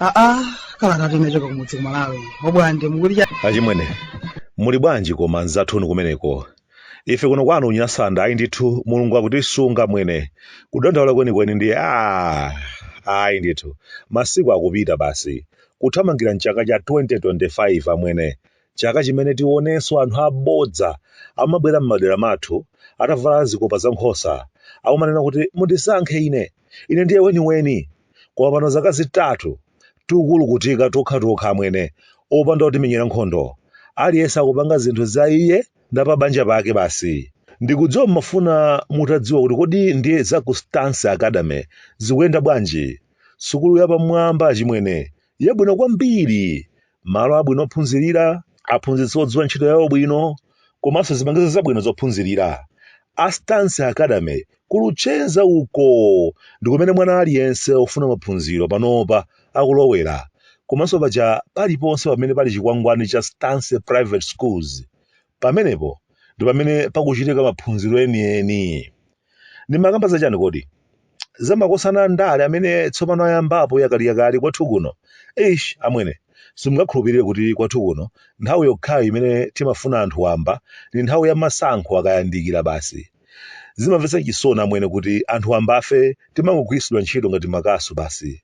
aa kalata yochoka kumudzi ku malawi obwande mukulitcha achimwene muli bwanji koma nzathuni kumeneko ife kuno kwanu unyasanda ayi ndithu mulungu akutisunga mwene kudandaula kwenikweni ndi a ayi ndithu masiku akupita basi kuthamangira m'chaka cha 2025 amwene, chaka chimene tionenso anthu abodza amabwera m'madera mathu atavala zikopa za nkhosa akumanena kuti mundisankhe ine, ine ndiye weniweni. Koma pano zaka zitatu tikukulukutika tokhatokha amwene opanda otimenyera nkhondo. Aliyense akupanga zinthu za iye ndi pa banja pake basi. Ndikudziwa mumafuna mutadziwa kuti kodi ndiye za ku Stance Academy zikuyenda bwanji? Sukulu yapamwamba, achimwene, yabwino kwambiri, malo abwino ophunzirira, aphunzitsi odziwa ntchito yawo bwino, komanso zipangizo zabwino zophunzirira. A Stance Academy ku Luchenza uko ndi kumene mwana aliyense wofuna maphunziro panopa akulowera. Komanso paja paliponse pamene pali chikwangwani cha Stance Private Schools, pamenepo ndi pamene pakuchitika maphunziro enieni. Ndimakamba za chani kodi? Za makosana a ndale amene tsopano ayambapo yakaliyakali kwathu kuno? Eish amwene, simungakhulupirire kuti kwathu kuno nthawi yokhayo imene timafunika anthu wamba ndi nthawi ya masankho akayandikira basi. Zimamvetsa chisoni amwene kuti anthu wambafe timangogwiritsidwa ntchito ngati makasu basi.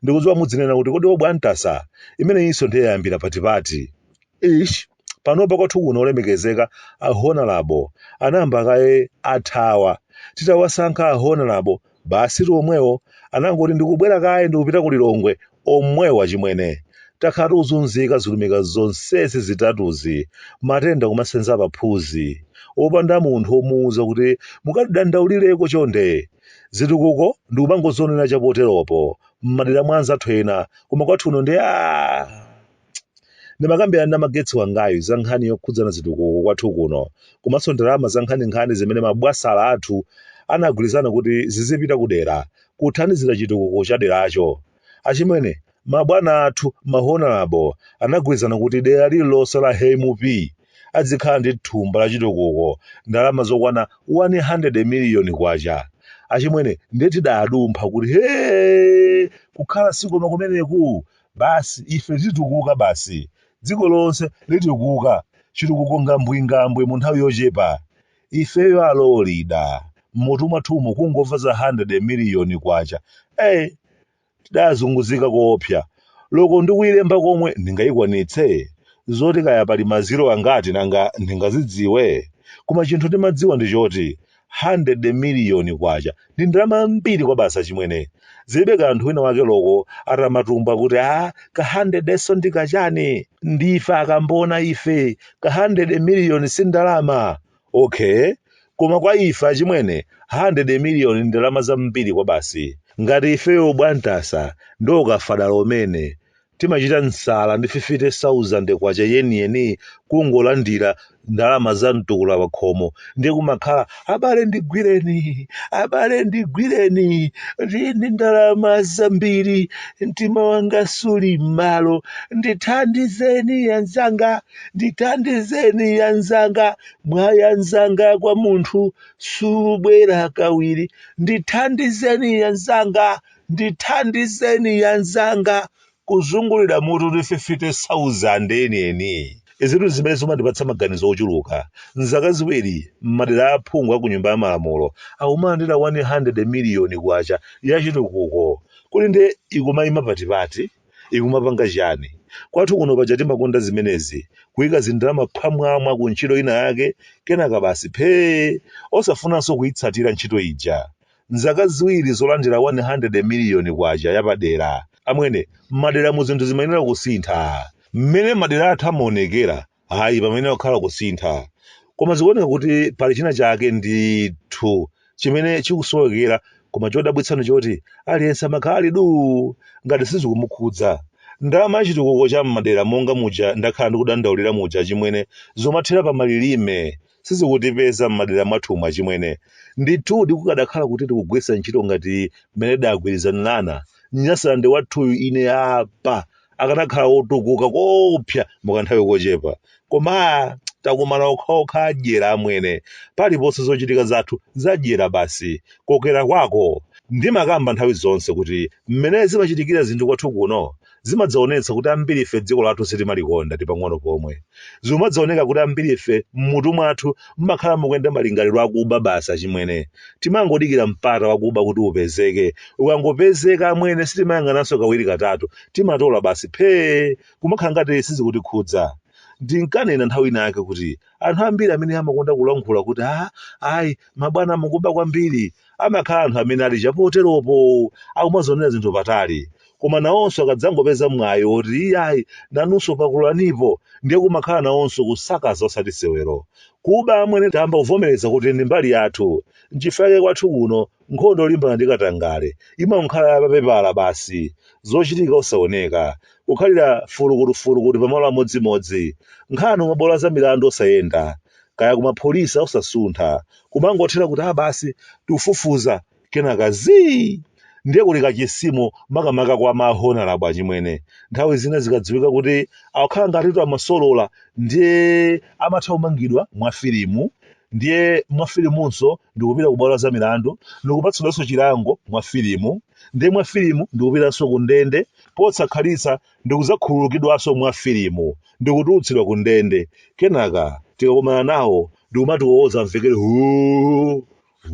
Ndikudziwa mudzinena kuti kodi obwande ntasa, imeneyinso ndiye yayambira patipati? Eish. panopa kwathu kuno olemekezeka a honorable anayamba kaye athawa titawasankha a honorable basitu omwewo anangoti ndikubwera kaye ndikupita ku lilongwe omwewo achimwene takhala tikuzunzika zilumika zonsezi zitatuzi matenda kumasenza paphunzi opanda munthu omuuza kuti mukatidandaulireko chonde zitukuko ndikumangozinena chapoteropo m'madera mwa anzathu ena koma kwathu kuno ndi a Ndimakambirana na Magetsi wangayu za nkhani yokhudzana zitukuko kwathu kuno komanso ndalama za nkhaninkhani zimene mabwasala athu anagwirizana kuti zizipita ku dera kuthandizira chitukuko cha deracho. Achimwene, mabwana athu, ma Honourable anagwirizana kuti dera lililonse la he MUP adzikhala ndi thumba la chitukuko ndalama zokwana 100 miliyoni kwacha. Achimwene, ndiye tidadumpha kuti hee! Kukhala si koma kumeneku! Basi, ife titukuka basi. Dziko lonse litukuka, chitukuko ngambwingambwe mu nthawi yochepa. Ifeyo alolida! M'mutu mwathumu kungomva za 100 miliyoni kwacha. Ee! Tidazunguzika koopsa. Loko ndi kuilemba komwe ndingayikwanitse? Zoti kaya pali ma zero angati nanga ndingazidziwe? Koma chinthu ndimadziwa ndi choti 100 miliyoni kwacha ndi ndalama zambiri kwabasi achimwene zilibe kanthu wina wake loko atamatumba kuti a ka 100 so ndi kachani ndife akambona ife ka 100 miliyoni si ndalama okay koma kwa ife achimwene 100 miliyoni ndalama zambiri kwabasi ngati ifeyo bwantasa ndi Okafadala umene Timachita msala ndi 50,000 kwacha yeniyeni kungolandira ndalama za mtukula pakhomo ndiye kumakhala abale ndigwireni, abale ndigwireni ndili ndi ndalama zambiri mtima wanga suli m'malo ndithandizeni yanzanga, ndithandizeni yanzanga mwayi yanzanga kwa munthu subwera kawiri ndithandizeni yanzanga. Ndithandizeni yanzanga kuzungulira mutu ndi 50,000 enieni. Izitu n'zimene zimandipatsa maganizo ochuluka. M'zaka ziwiri, m'madera a aphungu a ku Nyumba ya Malamulo akumalandira 100 miliyoni kwacha ya chitukuko. Kodi ndiye ikumaima patipati? Ikumapanga chiyani? Kwathu kuno paja timakonda zimenezi, kuika zindalama phwamwamwa ku ntchito inayake kenaka basi phee! Osafunanso kuitsatira ntchito ija. M'zaka ziwiri zolandira 100 miliyoni kwacha yapadera, amwene, m'maderamu zinthu zimayenera kusintha. Mmene madera athu amaonekera, ayi, pamayenera kukhala kusintha. Koma zikuoneka kuti pali china chake ndithu chimene chikusowekera koma chodabwitsa n'choti aliyense amakhala ali duu ngati sizikumukhudza. Ndalama ya chitukuko cha m'madera monga muja ndakhala ndikudandaulira muja achimwene, zomathera pa malilime, sizikutipeza m'madera mwathumu achimwene. Ndithudi kukadakhala kuti tikugwiritsa ntchito ngati mmene tidagwirizanirana, Nyasalande wathuyu ine apa akanakhala wotukuka koopsa mukanthawi kochepa. Koma takumana okhaokha adyera amwene. Paliponse zochitika zathu zadyera basi. Kokera kwako. Ndimakamba nthawi zonse kuti mmene zimachitikira zinthu kwathu kuno, zimadzaonetsa kuti ambirife dziko lathu sitimalikonda ndi pang'ono pomwe. Zimadzaoneka kuti ambirife m'mutu mwathu mumakhala mukuyenda malingaliro akuba basi achimwene. Timangodikira mpata wakuba kuti upezeke. Ukangopezeka amwene sitimayang'ananso kawiri katatu. Timatola basi phee! Kumakhala ngati sizikutikhudza. Ndinkanena nthawi ina yake kuti anthu ambiri amene amakonda kulankhula kuti ah, ayi mabwana mukuba kwambiri amakhala anthu amene ali chapoteropo akumazionera zinthu patali koma nawonso akadzangopeza mwayi woti iyayi nanunso pakulanipo ndiye kumakhala nawonso kusakaza osati sewero kuba amwene tayamba kuvomereza kuti ndi mbali yathu nchifukwa chake kwathu kuno nkhondo yolimbana ndi katangale imakhala ya papepala basi zochitika osaoneka kukhalira fulukutufulukutu pamalo amodzimodzi nkhani kumabwalo a za milandu osayenda kaya kumapholisa osasuntha kumangothera kuti a basi tikufufuza kenaka zii ndiye kuli kachisimo makamaka kwa ma honalabo achimwene nthawi zina zikadziwika kuti akukhala ngatitu amasolola ndiye amatha kumangidwa mwa filimu ndiye mwa filimunso ndikupita ku bwalo la za milandu ndikupatsidwanso chilango mwa filimu ndiye mwa filimu ndikupitanso ku ndende posakhalitsa ndi kudzakhululukidwanso mwa filimu ndi kutulutsidwa ku ndende, kenaka tikakumana nawo ndi kumatiwowoza amvekere huu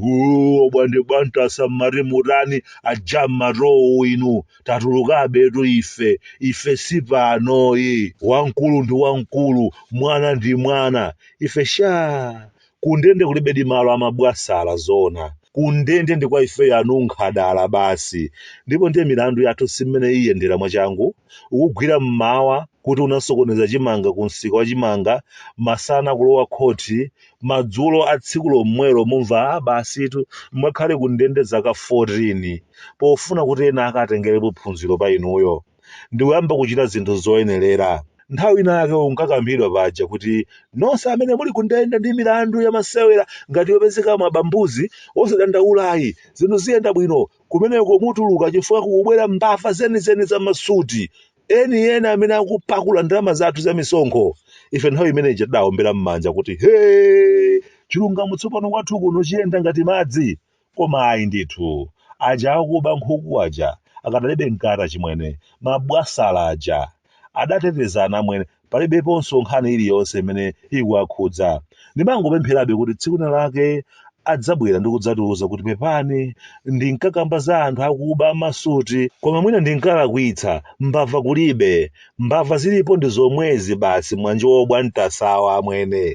huu obwande bwantasa mmati mutani aja mmatowu inu tatulukabetu ife ife si panoyi wamkulu ndi wamkulu mwana ndi mwana ife shaa kundende kulibedi malo amabwasala zoona kundende ndi kwa ifeyo anunkhadala basi ndipo ndiye milandu yathu si mmene iyendera mwachangu kukugwira mmawa kuti unasokoneza chimanga ku msika wa chimanga masana kulowa khoti madzulo a tsiku lomwelo mumva "Ah, basitu mwakhale kundende zaka 14 pofuna kuti ena akatengerepo phunziro pa inuyo ndi kuyamba kuchita zinthu zoyenerera. Nthawi inayake unkakambidwa paja kuti nonse amene muli kundende ndi milandu ya masewera ngati yopezeka mwaba mbuzi, osadandaula ayi, zinthu ziyenda bwino. Kumeneko mutuluka chifukwa kukubwera mbava zenizeni za masuti, eni eni amene akupakula ndalama zathu za misonkho. Ife nthawi imene ija tidawombera m'manja kuti, Hee! Chilungamo tsopano kwathu kuno chiyenda ngati madzi. Koma ayi ndithu. Aja akuba nkhuku aja akadalibe mkati achimwene, ma bwasala aja adatetezana amwene palibeponso nkhani iliyonse imene ikuwakhudza. Ndimangopempherabe kuti tsiku lina lake adzabwera ndi kudzatiuza kuti pepani ndinkakamba za anthu akuba a masuti koma mwina ndinkalakwitsa, mbava kulibe, mbava zilipo ndi zomwezi basi mwanjo obwantasawa amwene.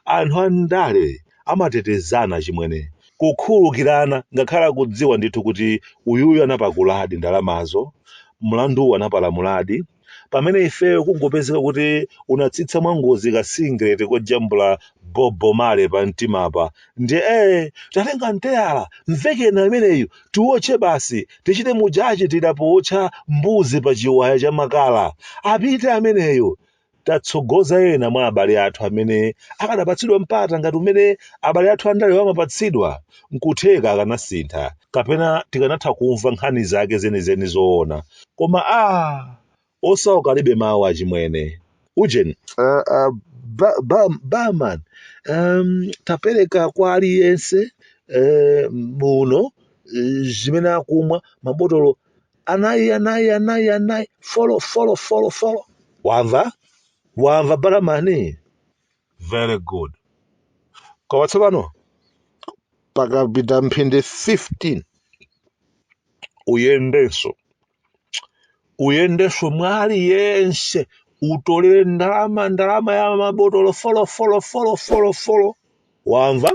Anthu a ndale amatetezana achimwene kukhululukirana ngakhale akudziwa ndithu kuti uyuyu anapakuladi ndalamazo mlanduwu anapalamuladi pamene ifeyo kungopezeka kuti unatsitsa mwangozi ka singlet kojambula bobo male pa mtimapa ndiye ee tatengani teyala mvekeni ameneyu tiwotche basi tichite muja tichitira pootcha mbuzi pa chiwaya cha makala apite ameneyu tatsogoza ena mwa abale athu amene akadapatsidwa mpata ngati umene abale athu andale amapatsidwa, n'kutheka akanasintha kapena tikanatha kumva nkhani zake zenizeni zoona. Koma aah! Osauka alibe mawu achimwene. Ujeni. Uh, uh, ba, ba, barman um, tapereka kwa aliyense uh, muno uh, zimene akumwa mabotolo anayi anayi anayi anayi folo folo folo folo wamva wamva barman very good koma tsopano pakapita mphindi 15 uyendenso uyendenso mwa aliyense utolere ndalama ndalama ya mabotolo folo folo folo folo folo Wamva?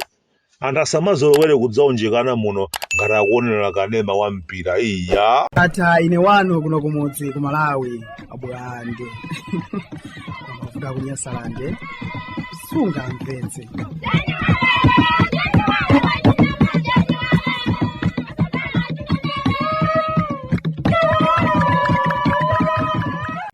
Anthu asamazolowere kudzaunjikana muno ngati akuonera kanema wa mpira. Iya! Ata ine wanu kuno kumudzi ku Malawi abwande kuda kunyasalande sungamvetse